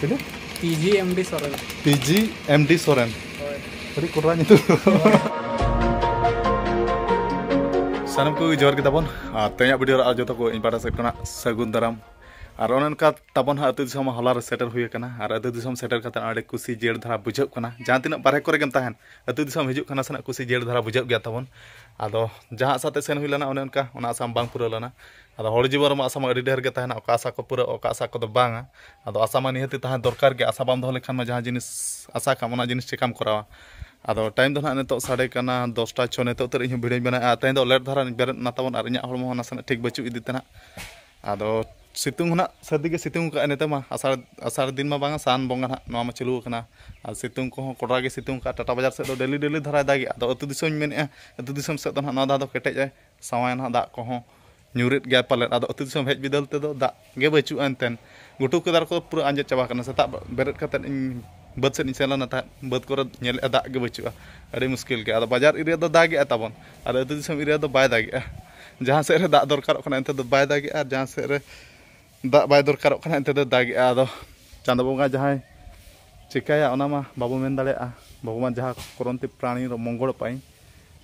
ᱪᱮᱞᱮ PG MD Soren PG MD Soren ᱦᱳᱭ ᱟᱹᱰᱤ ᱠᱚᱴᱨᱟ ᱧᱩᱛᱩᱢ ᱥᱟᱱᱟᱢ ᱠᱚᱜᱮ ᱡᱚᱦᱟᱨ ᱜᱮ ᱛᱟᱵᱚᱱ ᱟᱨ ᱛᱮᱦᱮᱧᱟᱜ ᱵᱷᱤᱰᱤᱭᱳ ᱨᱮ ᱟᱨ ᱡᱚᱛᱚ ᱠᱚ ᱤᱧ ᱯᱟᱦᱴᱟ ᱥᱮᱫ ᱠᱷᱚᱱᱟᱜ ᱥᱟᱹᱜᱩᱱ ᱫᱟᱨᱟᱢ ᱟᱨ ᱚᱱᱮ ᱚᱱᱠᱟ ᱛᱟᱵᱚᱱ ᱦᱟᱸᱜ ᱟᱹᱛᱩ ᱫᱤᱥᱚᱢ ᱦᱚᱞᱟ ᱨᱮ ᱥᱮᱴᱮᱨ ᱦᱩᱭ ᱟᱠᱟᱱᱟ ᱟᱨ ᱟᱹᱛᱩ ᱫᱤᱥᱚᱢ ᱥᱮᱴᱮᱨ ᱠᱟᱛᱮ ᱟᱹᱰᱤ ᱠᱩᱥᱤ ᱡᱤᱭᱟᱹᱲ ᱫᱷᱟᱨᱟ ᱵᱩᱡᱷᱟᱹᱜ ᱠᱟᱱᱟ ᱡᱟᱦᱟᱸ ᱛᱤᱱᱟᱹᱜ ᱵᱟᱨᱦᱮ ᱠᱚᱨᱮ ᱜᱮᱢ ᱛᱟᱦᱮᱱ ᱟᱹᱛᱩ ᱫᱤᱥᱚᱢ ᱦᱤᱡᱩᱜ ᱠᱟᱱᱟ ᱥᱮᱱᱟᱜ ᱠᱩᱥᱤ ᱡᱤᱭᱟᱹᱲ ᱫᱷᱟᱨᱟ ᱵᱩᱡᱷᱟᱹᱜ ᱜᱮᱭᱟ ᱛᱟᱵᱚᱱ ᱟᱫᱚ ᱡᱟᱦᱟᱸ ᱥᱟᱛᱮ ᱥᱮᱱ ᱦᱩᱭ ᱞᱮᱱᱟ ᱚᱱᱮ ᱚᱱᱠᱟ ᱚᱱᱟ ᱟᱥᱟᱢ ᱵᱟᱝ ᱯᱩᱨᱟᱹᱣ ᱞᱮᱱᱟ ᱟᱫᱚ ᱦᱚᱲ ᱡᱤᱵᱚᱱ ᱨᱮᱢᱟ ᱟᱥᱟ ᱢᱟ ᱟᱹᱰᱤ ᱰᱷᱮᱨ ᱜᱮ ᱛᱟᱦᱮᱱᱟ ᱚᱠᱟ ᱟᱥᱟ ᱠᱚ ᱯᱩᱨᱟᱹᱜᱼᱟ ᱚᱠᱟ ᱟᱥᱟ ᱠᱚᱫᱚ ᱵᱟᱝᱟ ᱟᱫᱚ ᱟᱥᱟ ᱢᱟ ᱱᱤᱦᱟᱹᱛ ᱜᱮ ᱛᱟᱦᱮᱸ ᱫᱚᱨᱠᱟᱨ ᱜᱮ ᱟᱥᱟ ᱵᱟᱢ ᱫᱚᱦᱚ ᱞᱮᱠᱷᱟᱱ ᱢᱟ ᱡᱟᱦᱟᱸ ᱡᱤᱱᱤᱥ ᱟᱥᱟ ᱠᱟᱜ ᱟᱢ ᱚᱱᱟ ᱡᱤᱱᱤᱥ ᱪᱤᱠᱟᱹᱢ ᱠᱚᱨᱟᱣᱟ ᱟᱫᱚ ᱴᱟᱭᱤᱢ ᱫᱚ ᱱᱟᱦᱟᱜ ᱱᱤᱛᱚᱜ ᱥᱟᱰᱮ ᱠᱟᱱᱟ ᱫᱚᱥᱴᱟ ᱪᱷᱚ ᱱᱤᱛᱚᱜ ᱩᱛᱟᱹᱨ ᱤᱧ ᱦᱚᱸ ᱵᱷᱤᱰᱭᱳᱧ ᱵᱮᱱᱟᱣᱮᱜᱼᱟ ᱛᱮᱦᱮᱧ ᱫᱚ ᱞᱮᱴ ᱫᱷᱟᱨᱟ ᱵᱮᱨᱮᱫ ᱮᱱᱟ ᱛᱟᱵᱚᱱ ᱟᱨ ᱤᱧᱟᱹᱜ ᱦᱚᱲᱢᱚ ᱦᱚᱸ ᱱᱟᱥᱮᱱᱟᱜ ᱴᱷᱤᱠ ᱵᱟᱹᱪᱩᱜ ᱤᱫᱤ ᱛᱮ ᱱᱟᱦᱟᱜ ᱟᱫᱚ ᱥᱤᱛᱩᱝ ᱦᱚᱸ ᱱᱟᱦᱟᱜ ᱥᱟᱹᱨᱫᱤ ᱜᱮ ᱥᱤᱛᱩᱝ ᱠᱟᱜᱼᱟᱭ ᱱᱤᱛᱚᱜ ᱢᱟ ᱟᱥᱟᱲ ᱟᱥᱟᱲ ᱫᱤᱱ ᱢᱟ ᱵᱟᱝᱟ ᱥᱟᱱ ᱵᱚᱸᱜᱟ ᱱᱟᱦᱟᱜ ᱱᱚᱣᱟ ᱢᱟ ᱪᱟᱹᱞᱩ ᱟᱠᱟᱱᱟ ᱟᱨ ᱥᱤᱛᱩᱝ ᱠᱚᱦᱚᱸ ᱠᱚᱰᱨᱟ ᱜᱮ ᱥᱤᱛᱩᱝ ᱠᱟᱜᱼᱟ ᱴᱟᱴᱟ ᱵᱟᱡᱟᱨ ᱥᱮᱫ ᱫᱚ ᱰᱮᱞᱤ ᱰᱮᱞᱤ ᱫᱷᱟᱨᱟᱭ ᱫᱟᱜᱮᱜᱼᱟ ᱟᱫᱚ ᱟᱛᱳ ᱫᱤᱥᱚᱢᱤᱧ ᱢᱮᱱᱮᱜᱼᱟ ᱟᱛᱳ ᱫᱤᱥᱚᱢ ᱥᱮᱫ ᱫᱚ ᱱᱟᱦᱟᱜ ᱱᱚᱣᱟ ᱫᱷᱟᱣ ᱫᱚ ᱠᱮᱴᱮᱡ ᱟᱭ ᱥᱟᱶᱟᱭ ᱱᱟᱦᱟᱜ ᱫᱟᱜ ᱠᱚᱦᱚᱸ ᱧᱩᱨᱮᱫ ᱜᱮᱭᱟ ᱯᱟᱞᱮᱫ ᱟᱫᱚ ᱟᱹᱛᱩ ᱫᱤᱥᱚᱢ ᱦᱮᱡ ᱵᱤᱫᱟᱹᱞ ᱛᱮᱫᱚ ᱫᱟᱜ ᱜᱮ ᱵᱟᱹᱪᱩᱜᱼᱟ ᱮᱱᱛᱮᱫ ᱜᱷᱩᱴᱩ ᱠᱚ ᱫᱟᱨᱮ ᱠᱚ ᱯᱩᱨᱟᱹ ᱟᱸᱡᱮᱫ ᱪᱟᱵᱟ ᱟᱠᱟᱱᱟ ᱥᱮᱛᱟᱜ ᱵᱮᱨᱮᱫ ᱠᱟᱛᱮᱫ ᱤᱧ ᱵᱟᱹᱫᱽ ᱥᱮᱫ ᱤᱧ ᱥᱮᱱ ᱞᱮᱱᱟ ᱛᱟᱦᱮᱸᱫ ᱵᱟᱹᱫᱽ ᱠᱚᱨᱮ ᱧᱮᱞᱮᱜᱼᱟ ᱫᱟᱜ ᱜᱮ ᱵᱟᱹᱪᱩᱜᱼᱟ ᱟᱹᱰᱤ ᱢᱩᱥᱠᱤᱞ ᱜᱮᱭᱟ ᱟᱫᱚ ᱵᱟᱡᱟᱨ ᱮᱨᱤᱭᱟ ᱫᱚ ᱫᱟᱜ ᱮᱜᱼᱟ ᱛᱟᱵᱚᱱ ᱟᱨ ᱟᱹᱛᱩ ᱫᱤᱥᱚᱢ ᱮᱨᱤᱭᱟ ᱫᱚ ᱵᱟᱭ ᱫᱟᱜᱮᱜᱼᱟ ᱡᱟᱦᱟᱸ ᱥᱮᱫ ᱨᱮ ᱫᱟᱜ ᱫᱚᱨᱠᱟᱨᱚᱜ ᱠᱟᱱᱟ ᱚᱱᱛᱮ ᱫᱚ ᱵᱟᱭ ᱫᱟᱜᱮᱜᱼᱟ ᱟᱨ ᱡᱟᱦᱟᱸ ᱥᱮᱫ ᱨᱮ ᱫᱟᱜ ᱵᱟᱭ ᱫᱚᱨᱠᱟᱨᱚᱜ ᱠᱟᱱᱟ ᱮᱱᱛᱮ ᱫᱚ ᱫᱟᱜᱮᱜᱼᱟ ᱟᱫᱚ ᱪᱟᱸᱫᱚ ᱵᱚᱸᱜᱟ ᱡᱟᱦᱟᱸᱭ ᱪᱤᱠᱟᱹᱭᱟ ᱚᱱᱟ ᱢᱟ ᱵᱟᱵᱚ ᱢᱮᱱ ᱫᱟᱲᱮᱭᱟᱜᱼᱟ ᱵᱷᱚᱜᱚᱵᱟᱱ ᱡᱟᱦᱟᱸ ᱠᱚᱨᱚᱱᱛᱤ ᱯᱨᱟᱬᱤ ᱨᱮ ᱢᱚᱝᱜᱚᱲ ᱯᱟᱭ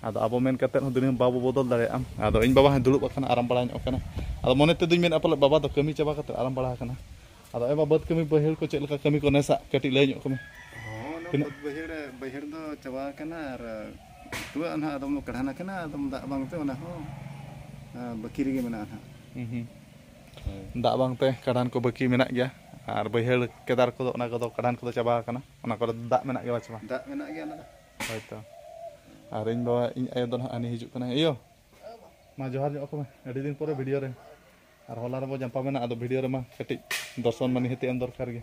ᱟᱫᱚ ᱟᱵᱚ ᱢᱮᱱ ᱠᱟᱛᱮᱫ ᱦᱚᱸ ᱫᱩᱱᱤᱭᱟᱹ ᱵᱟᱵᱚ ᱵᱚᱫᱚᱞ ᱫᱟᱲᱮᱭᱟᱜᱼᱟ ᱟᱫᱚ ᱤᱧ ᱵᱟᱵᱟ ᱦᱚᱸ ᱫᱩᱲᱩᱵ ᱟᱠᱟᱱᱟ ᱟᱨᱟᱢ ᱵᱟᱲᱟ ᱧᱚᱜ ᱟᱠᱟᱱᱟ ᱟᱫᱚ ᱢᱚᱱᱮ ᱛᱮᱫᱚᱧ ᱢᱮᱱᱟ ᱯᱟᱞᱮ ᱵᱟᱵᱟ ᱫᱚ ᱠᱟᱹᱢᱤ ᱪᱟᱵᱟ ᱠᱟᱛᱮᱫ ᱟᱨᱟᱢ ᱵᱟᱲᱟ ᱟᱠᱟᱱᱟ ᱟᱫᱚ ᱮᱵᱟ ᱵᱟᱹᱫᱽ ᱠᱟᱹᱢᱤ ᱵᱟᱹᱭᱦᱟᱹᱲ ᱠᱚ ᱪᱮᱫ ᱞᱮᱠᱟ ᱠᱟᱹᱢᱤ ᱠᱚ ᱱᱮᱥᱟᱜ ᱠᱟᱹᱴᱤᱡ ᱞᱟᱹᱭ ᱧᱚᱜ ᱠᱚᱢᱮ ᱛᱤᱱᱟᱹᱜ ᱵᱟᱹᱭᱦᱟᱹᱲ ᱵᱟᱹᱭᱦᱟᱹᱲ ᱫᱚ ᱪᱟᱵᱟ ᱟᱠᱟᱱᱟ ᱟᱨ ᱴᱩᱣᱟᱹᱜ ᱱᱟᱦᱟᱜ ᱟᱫᱚᱢ ᱫᱚ ᱠᱟᱰᱷᱟᱱ ᱟᱠᱟᱱᱟ ᱟᱫᱚᱢ ᱫᱟᱜ ᱵᱟᱝᱛᱮ ᱚᱱᱟ ᱦᱚᱸ ᱵᱟᱹᱠᱤ ᱨᱮᱜᱮ ᱢᱮᱱᱟᱜᱼᱟ ᱱᱟᱦᱟᱜ ᱫᱟᱜ ᱵᱟᱝ ᱛᱮ ᱠᱟᱰᱟᱱ ᱠᱚ ᱵᱟᱹᱠᱤ ᱢᱮᱱᱟᱜ ᱜᱮᱭᱟ ᱟᱨ ᱵᱟᱹᱭᱦᱟᱹᱲ ᱠᱮᱫᱟᱨ ᱠᱚᱫᱚ ᱚᱱᱟ ᱠᱚᱫᱚ ᱠᱟᱰᱟᱱ ᱠᱚᱫᱚ ᱪᱟᱵᱟ ᱟᱠᱟᱱᱟ ᱚᱱᱟ ᱠᱚᱨᱮ ᱫᱟᱜ ᱢᱮᱱᱟᱜ ᱜᱮᱭᱟ ᱵᱟᱪᱮ ᱵᱟᱝ ᱫᱟᱜ ᱢᱮᱱᱟᱜ ᱜᱮᱭᱟ ᱚᱱᱟ ᱦᱳᱭ ᱛᱚ ᱟᱨ ᱤᱧ ᱵᱟᱵᱟ ᱤᱧ ᱟᱭᱳ ᱫᱚ ᱱᱟᱦᱟᱜ ᱦᱟᱹᱱᱤ ᱦᱤᱡᱩᱜ ᱠᱟᱱᱟ ᱤᱭᱳ ᱢᱟ ᱡᱚᱦᱟᱨ ᱧᱚᱜ ᱟᱠᱚ ᱢᱮ ᱟᱹᱰᱤ ᱫᱤᱱ ᱯᱚᱨᱮ ᱵᱷᱤᱰᱤᱭᱳ ᱨᱮ ᱟᱨ ᱦᱚᱞᱟ ᱨᱮᱵᱚ ᱡᱟᱢᱯᱟ ᱢᱮᱱᱟ ᱟᱫᱚ ᱵᱷᱤᱰᱤᱭᱳ ᱨᱮᱢᱟ ᱠᱟᱹᱴᱤᱡ ᱫᱚᱨᱥᱚᱱ ᱢᱟ ᱱᱤᱦᱟᱹᱛ ᱮᱢ ᱫᱚᱨᱠᱟᱨ ᱜᱮ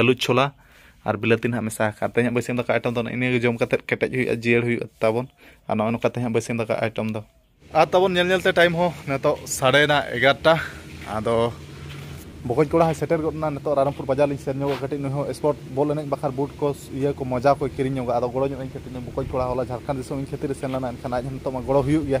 ᱟᱹᱞᱩ ᱪᱷᱳᱞᱟ ᱟᱨ ᱵᱤᱞᱟᱹᱛᱤ ᱱᱟᱦᱟᱜ ᱢᱮᱥᱟ ᱟᱠᱟᱫ ᱛᱮᱦᱮᱧ ᱵᱟᱹᱥᱭᱟᱹᱢ ᱫᱟᱠᱟ ᱟᱭᱴᱮᱢ ᱫᱚ ᱤᱱᱟᱹᱜᱮ ᱡᱚᱢ ᱠᱟᱛᱮ ᱠᱮᱴᱮᱡ ᱦᱩᱭᱩᱜᱼᱟ ᱡᱤᱭᱟᱹᱲ ᱦᱩᱭᱩᱜᱼᱟ ᱛᱟᱵᱚᱱ ᱟᱨ ᱱᱚᱜᱼᱚᱭ ᱱᱚᱝᱠᱟ ᱛᱮᱦᱮᱧ ᱵᱟᱹᱥᱭᱟᱹᱢ ᱫᱟᱠᱟ ᱟᱭᱴᱮᱢ ᱫᱚ ᱟᱨ ᱛᱟᱵᱚᱱ ᱧᱮᱞ ᱧᱮᱞᱛᱮ ᱴᱟᱭᱤᱢ ᱦᱚᱸ ᱱᱤᱛᱚᱜ ᱥᱟᱲᱮᱱᱟ ᱮᱜᱟᱨᱚᱴᱟ ᱟᱫᱚ ᱵᱚᱠᱚᱡ ᱠᱚᱲᱟ ᱦᱚᱸ ᱥᱮᱴᱮᱨ ᱜᱚᱫ ᱮᱱᱟ ᱱᱤᱛᱚᱜ ᱨᱟᱭᱨᱚᱝᱯᱩᱨ ᱵᱟᱡᱟᱨ ᱞᱤᱧ ᱥᱮᱱ ᱧᱚᱜᱚᱜ ᱠᱟᱹᱴᱤᱡ ᱱᱩᱭ ᱦᱚᱸ ᱥᱯᱳᱨᱴ ᱵᱚᱞ ᱮᱱᱮᱡ ᱵᱟᱠᱷᱨᱟ ᱵᱩᱴ ᱠᱚ ᱤᱭᱟᱹ ᱠᱚ ᱢᱚᱡᱟ ᱠᱚᱭ ᱠᱤᱨᱤᱧ ᱧᱚᱜᱟ ᱟᱫᱚ ᱜᱚᱲᱚ ᱧᱚᱜ ᱟᱹᱧ ᱠᱟᱹᱴᱤᱡ ᱱᱩᱭ ᱵᱚᱠᱚᱡ ᱠᱚᱲᱟ ᱦᱚᱞᱟ ᱡᱷᱟᱲᱠᱷᱚᱸᱰ ᱫᱤᱥᱚᱢ ᱤᱧ ᱠᱷᱟᱹᱛᱤᱨᱮ ᱥᱮᱱ ᱞᱮᱱᱟ ᱮᱱᱠᱷᱟᱱ ᱟᱡ ᱦᱚᱸ ᱱᱤᱛᱚᱜ ᱢᱟ ᱜᱚᱲᱚ ᱦᱩᱭᱩᱜ ᱜᱮᱭᱟ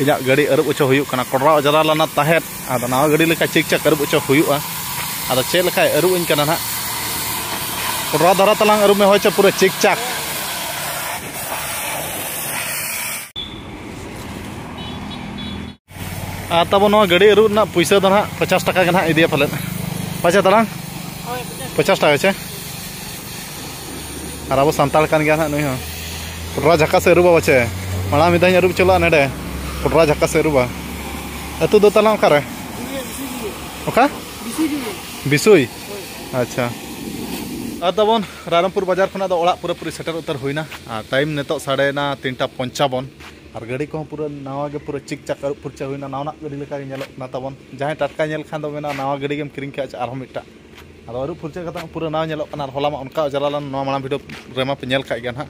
ᱤᱧᱟᱹᱜ ᱜᱟᱹᱰᱤ ᱟᱹᱨᱩᱵ ᱚᱪᱚ ᱦᱩᱭᱩᱜ ᱠᱟᱱᱟ ᱠᱚᱰᱨᱟ ᱚᱡᱽᱨᱟ ᱞᱮᱱᱟ ᱛᱟᱦᱮᱸᱫ ᱟᱫᱚ ᱱᱟᱣᱟ ᱜᱟᱹᱰᱤ ᱞᱮᱠᱟ ᱪᱮᱠ ᱪᱮᱠ ᱟᱹᱨᱩᱵ ᱚᱪᱚ ᱦᱩᱭᱩᱜᱼᱟ ᱟᱫᱚ ᱪᱮᱫ ᱞᱮᱠᱟᱭ ᱟᱹᱨᱩᱵ ᱟᱹᱧ ᱠᱟᱱᱟ ᱱᱟᱦᱟᱜ ᱠᱚᱰᱨᱟ ᱫᱷᱟᱨᱟ ᱛᱟᱞᱟᱝ ᱟᱹᱨᱩᱵ ᱢᱮ ᱦᱳᱭ ᱪᱚ ᱯᱩᱨᱟᱹ ᱪᱮᱠ ᱪᱟᱠ ᱟᱨ ᱛᱟᱵᱚ ᱱᱚᱣᱟ ᱜᱟᱹᱰᱤ ᱟᱹᱨᱩᱵ ᱨᱮᱱᱟᱜ ᱯᱩᱭᱥᱟᱹ ᱫᱚ ᱱᱟᱦᱟᱜ ᱯᱚᱪᱟᱥ ᱴᱟᱠᱟ ᱜᱮ ᱱᱟᱦᱟᱜ ᱤᱫᱤᱭᱟ ᱯᱟᱞᱮᱫ ᱯᱟᱪᱮ ᱛᱟᱞᱟᱝ ᱯᱚᱪᱟᱥ ᱴᱟᱠᱟ ᱪᱮ ᱟᱨ ᱟᱵᱚ ᱥᱟᱱᱛᱟᱲ ᱠᱟᱱ ᱜᱮᱭᱟ ᱱᱟᱦᱟᱜ ᱱᱩᱭ ᱦᱚᱸ ᱯᱚᱴᱨᱟ ᱡᱷᱟᱠᱟ ᱥᱮ ᱟᱹᱨᱩᱵᱟ ᱵᱟᱪᱮ ᱢᱟᱲᱟᱝ ᱢᱤᱫ ᱫᱷᱟᱣ ᱤᱧ ᱟᱹᱨᱩᱵ ᱦᱚᱪᱚ ᱞᱮᱫᱼᱟ ᱱᱚᱰᱮ ᱯᱚᱴᱨᱟ ᱡᱷᱟᱠᱟ ᱥᱮ ᱟᱹᱨᱩᱵᱟ ᱟᱹᱛᱩ ᱫᱚ ᱛᱟᱞᱟᱝ ᱚᱠᱟᱨᱮ ᱚᱠᱟ ᱵᱤᱥᱩᱭ ᱟᱪᱪᱷᱟ ᱟᱨ ᱛᱟᱵᱚᱱ ᱨᱟᱭᱨᱚᱝᱯᱩᱨ ᱵᱟᱡᱟᱨ ᱠᱷᱚᱱᱟᱜ ᱫᱚ ᱚᱲᱟᱜ ᱯᱩᱨᱟᱹ ᱯᱩᱨᱤ ᱥᱮᱴᱮᱨ ᱩᱛᱟᱹᱨ ᱦᱩᱭᱱᱟ ᱟᱨ ᱴᱟᱭᱤᱢ ᱱᱤᱛᱚᱜ ᱥᱟᱰᱮᱭᱮᱱᱟ ᱛᱤᱱᱴᱟ ᱯᱚᱧᱪᱟᱵᱚᱱ ᱟᱨ ᱜᱟᱹᱰᱤ ᱠᱚᱦᱚᱸ ᱯᱩᱨᱟᱹ ᱱᱟᱣᱟ ᱜᱮ ᱯᱩᱨᱟᱹ ᱪᱤᱠ ᱪᱟᱠ ᱟᱹᱨᱩᱵ ᱯᱷᱩᱨᱪᱟᱹ ᱦᱩᱭᱱᱟ ᱱᱟᱣᱟᱱᱟᱜ ᱜᱟᱹᱰᱤ ᱞᱮᱠᱟ ᱜᱮ ᱧᱮᱞᱚᱜ ᱠᱟᱱᱟ ᱛᱟᱵᱚᱱ ᱡᱟᱦᱟᱸᱭ ᱴᱟᱴᱠᱟ ᱧᱮᱞ ᱠᱷᱟᱱ ᱫᱚ ᱢᱮᱱᱟ ᱱᱟᱣᱟ ᱜᱟᱹᱰᱤ ᱜᱮᱢ ᱠᱤᱨᱤᱧ ᱠᱮᱫᱼᱟ ᱟᱨᱦᱚᱸ ᱢᱤᱫᱴᱟᱝ ᱟᱫᱚ ᱟᱹᱨᱩᱵ ᱯᱷᱩᱨᱪᱟᱹ ᱠᱟᱛᱮ ᱯᱩᱨᱟᱹ ᱱᱟᱣᱟ ᱧᱮᱞᱚᱜ ᱠᱟᱱᱟ ᱟᱨ ᱦᱚᱞᱟ ᱢᱟ ᱚᱱᱠᱟ ᱚᱡᱽᱨᱟ ᱞᱮᱱ ᱱᱚᱣᱟ ᱢᱟᱲᱟᱝ ᱵᱷᱤᱰᱤᱭᱳ ᱨᱮᱢᱟ ᱯᱮ ᱧᱮᱞ ᱠᱟᱜ ᱜᱮᱭᱟ ᱱᱟᱦᱟᱜ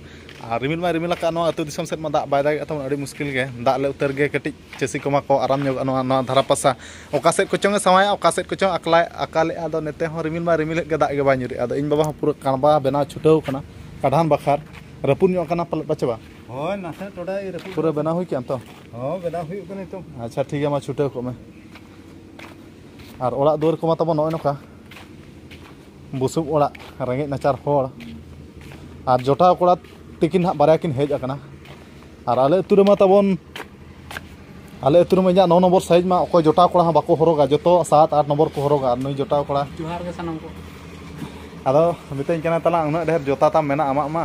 ᱟᱨ ᱨᱤᱢᱤᱞ ᱢᱟᱭ ᱨᱤᱢᱤᱞ ᱟᱠᱟᱫ ᱱᱚᱣᱟ ᱟᱹᱛᱩ ᱫᱤᱥᱚᱢ ᱥᱮᱫ ᱢᱟ ᱫᱟᱜ ᱵᱟᱭ ᱫᱟᱜᱮᱫ ᱛᱟᱵᱚᱱ ᱟᱹᱰᱤ ᱢᱩᱥᱠᱤᱞ ᱜᱮ ᱫᱟᱜ ᱞᱮ ᱩᱛᱟᱹᱨ ᱜᱮ ᱠᱟᱹᱴᱤᱡ ᱪᱟᱹᱥᱤ ᱠᱚᱢᱟ ᱠᱚ ᱟᱨᱟᱢ ᱧᱚᱜᱚᱜᱼᱟ ᱱᱚᱣᱟ ᱱᱚᱣᱟ ᱫᱷᱟᱨᱟ ᱯᱟᱥᱟ ᱚᱠᱟ ᱥᱮᱫ ᱠᱚᱪᱚᱝ ᱮ ᱥᱟᱶᱟᱭᱮᱜᱼᱟ ᱚᱠᱟ ᱥᱮᱫ ᱠᱚᱪᱚᱝ ᱟᱠᱞᱟᱭ ᱟᱠᱟᱞᱮᱜᱼᱟ ᱟᱫᱚ ᱱᱚᱛᱮ ᱦᱚᱸ ᱨᱤᱢᱤᱞ ᱢᱟᱭ ᱨᱤᱢᱤᱞ ᱮᱫ ᱜᱮ ᱫᱟᱜ ᱜᱮ ᱵᱟᱭ ᱧᱩᱨᱮᱜᱼᱟ ᱟᱫᱚ ᱤᱧ ᱵᱟᱵᱟ ᱦᱚᱸ ᱯᱩᱨᱟᱹ ᱠᱟᱬᱵᱟ ᱵᱮᱱᱟᱣ ᱪᱷᱩᱴᱟᱹᱣ ᱠᱟᱱᱟ ᱠᱟᱰᱷᱟᱱ ᱵᱟᱠᱷᱟᱨ ᱨᱟᱹᱯᱩᱫ ᱧᱚᱜ ᱠᱟᱱᱟ ᱯᱟᱞᱮᱫ ᱯᱟᱪᱮ ᱵᱟᱝ ᱦᱳᱭ ᱱᱟᱥᱮ ᱴᱚᱰᱟᱭ ᱨᱟᱹᱯᱩᱫ ᱯᱩᱨᱟᱹ ᱵᱮᱱᱟᱣ ᱦᱩᱭ ᱠᱮᱜᱼᱟᱢ ᱛᱚ ᱦᱚᱸ ᱵᱮᱱᱟᱣ ᱦᱩᱭᱩᱜ ᱠᱟᱱᱟ ᱱᱤᱛᱚᱝ ᱟᱪᱪᱷᱟ ᱴᱷᱤᱠ ᱜᱮᱭᱟ ᱢᱟ ᱪᱷᱩᱴᱟᱹᱣ ᱠᱚᱜ ᱢᱮ ᱟᱨ ᱚᱲᱟᱜ ᱫᱩᱣᱟᱹᱨ ᱠᱚᱢᱟ ᱛᱟᱵᱚᱱ ᱱᱚᱜᱼᱚᱭ ᱱᱚᱝᱠᱟ ᱵᱩᱥᱩᱵ ᱚᱲᱟᱜ ᱨᱮᱸᱜᱮᱡ ᱱᱟᱪᱟᱨ ᱦᱚᱲ ᱟᱨ ᱡᱚᱴᱟᱣ ᱠᱚᱲᱟ ᱛᱤᱠᱤᱱ ᱦᱟᱸᱜ ᱵᱟᱨᱭᱟ ᱠᱤᱱ ᱦᱮᱡ ᱟᱠᱟᱱᱟ ᱟᱨ ᱟᱞᱮ ᱟᱹᱛᱩ ᱨᱮᱢᱟ ᱛᱟᱵᱚᱱ ᱟᱞᱮ ᱟᱹᱛᱩ ᱨᱮᱢᱟ ᱤᱧᱟᱹᱜ ᱱᱚ ᱱᱚᱢᱵᱚᱨ ᱥᱟᱭᱤᱡᱽ ᱢᱟ ᱚᱠᱚᱭ ᱡᱚᱴᱟᱣ ᱠᱚᱲᱟ ᱦᱚᱸ ᱵᱟᱠᱚ ᱦᱚᱨᱚᱜᱟ ᱡᱚᱛᱚ ᱥᱟᱛ ᱟᱴ ᱱᱚᱢᱵᱚᱨ ᱠᱚ ᱦᱚᱨᱚᱜᱟ ᱟᱨ ᱱᱩᱭ ᱡᱚᱴᱟᱣ ᱠᱚᱲᱟ ᱡᱚᱦᱟᱨ ᱜᱮ ᱥᱟᱱᱟᱢ ᱠᱚ ᱟᱫᱚ ᱢᱤᱛᱟᱹᱧ ᱠᱟᱱᱟ ᱛᱟᱞᱟᱝ ᱩᱱᱟᱹᱜ ᱰᱷᱮᱨ ᱡᱚᱛᱟ ᱛᱟᱢ ᱢᱮᱱᱟᱜᱼᱟ ᱟᱢᱟᱜ ᱢᱟ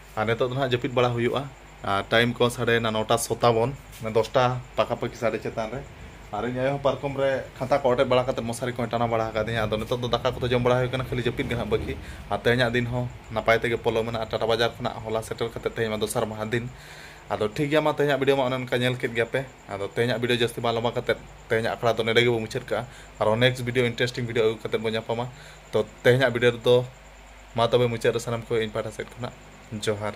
ᱟᱨ ᱱᱤᱛᱚᱜ ᱫᱚ ᱱᱟᱦᱟᱜ ᱡᱟᱹᱯᱤᱫ ᱵᱟᱲᱟ ᱦᱩᱭᱩᱜᱼᱟ ᱟᱨ ᱴᱟᱭᱤᱢ ᱠᱚ ᱥᱟᱰᱮᱭᱮᱱᱟ ᱱᱚᱴᱟ ᱥᱚᱛᱟᱵᱚᱱ ᱢᱟᱱᱮ ᱫᱚᱥᱴᱟ ᱯᱟᱠᱟ ᱯᱟᱹᱠᱤ ᱥᱟᱰᱮ ᱪᱮᱛᱟᱱ ᱨᱮ ᱟᱨ ᱤᱧ ᱟᱭᱳ ᱦᱚᱸ ᱯᱟᱨᱠᱚᱢ ᱨᱮ ᱠᱷᱟᱛᱟ ᱠᱚ ᱚᱴᱮᱡ ᱵᱟᱲᱟ ᱠᱟᱛᱮ ᱢᱚᱥᱟᱨᱤ ᱠᱚᱭ ᱴᱟᱱᱟᱣ ᱵᱟᱲᱟ ᱟᱠᱟᱫᱤᱧᱟ ᱟᱫᱚ ᱱᱤᱛᱚᱜ ᱫᱚ ᱫᱟᱠᱟ ᱠᱚᱫᱚ ᱡᱚᱢ ᱵᱟᱲᱟ ᱦᱩᱭ ᱠᱟᱱᱟ ᱠᱷᱟᱹᱞᱤ ᱡᱟᱹᱯᱤᱫ ᱜᱮ ᱱᱟᱦᱟᱜ ᱵᱟᱹᱠᱤ ᱟᱨ ᱛᱮᱦᱮᱧᱟᱜ ᱫᱤᱱ ᱦᱚᱸ ᱱᱟᱯᱟᱭ ᱛᱮᱜᱮ ᱯᱚᱞᱚᱢᱮᱱᱟ ᱟᱨ ᱴᱟᱴᱟ ᱵᱟᱡᱟᱨ ᱠᱷᱚᱱᱟᱜ ᱦᱚᱞᱟ ᱥᱮᱴᱮᱨ ᱠᱟᱛᱮ ᱛᱮᱦᱮᱧ ᱢᱟ ᱫᱚᱥᱟᱨ ᱢᱟᱦᱟ ᱫᱤᱱ ᱟᱫᱚ ᱴᱷᱤᱠ ᱜᱮᱭᱟ ᱢᱟ ᱛᱮᱦᱮᱧᱟᱜ ᱵᱷᱤᱰᱤᱭᱳ ᱢᱟ ᱚᱱᱮ ᱚᱱᱠᱟ ᱧᱮᱞ ᱠᱮᱫ ᱜᱮᱭᱟᱯᱮ ᱟᱫᱚ ᱛᱮᱦᱮᱧᱟᱜ ᱵᱷᱤᱰᱤᱭᱳ ᱡᱟᱹᱥᱛᱤ ᱵᱟᱝ ᱞᱚᱢᱵᱟ ᱠᱟᱛᱮ ᱛᱮᱦᱮᱧᱟᱜ ᱟᱠᱷᱲᱟ ᱫᱚ ᱱᱚᱰᱮ ᱜᱮᱵᱚ ᱢᱩᱪᱟᱹᱫ ᱠᱟᱜᱼᱟ ᱟᱨᱚ ᱱᱮᱠᱥᱴ ᱵᱷᱤᱰᱤᱭᱳ ᱤᱱᱴᱟᱨᱮᱥᱴᱤᱝ ᱵᱷᱤᱰᱤᱭᱳ ᱟᱹᱜᱩ ᱠᱟᱛᱮ ᱵᱚ ᱧᱟᱯᱟᱢᱟ ᱛᱚ ᱛᱮᱦᱮᱧᱟᱜ ᱵᱷᱤᱰᱤᱭᱳ ᱨᱮᱫᱚ ᱢᱟ ᱛᱚᱵᱮ ᱢᱩᱪᱟᱹᱫ ᱨᱮ ᱥᱟᱱᱟᱢ ᱠᱚ ᱤᱧ ᱯᱟᱦᱴᱟ ᱥᱮᱫ ᱠᱷᱚᱱᱟᱜ ᱡᱚᱦᱟᱨ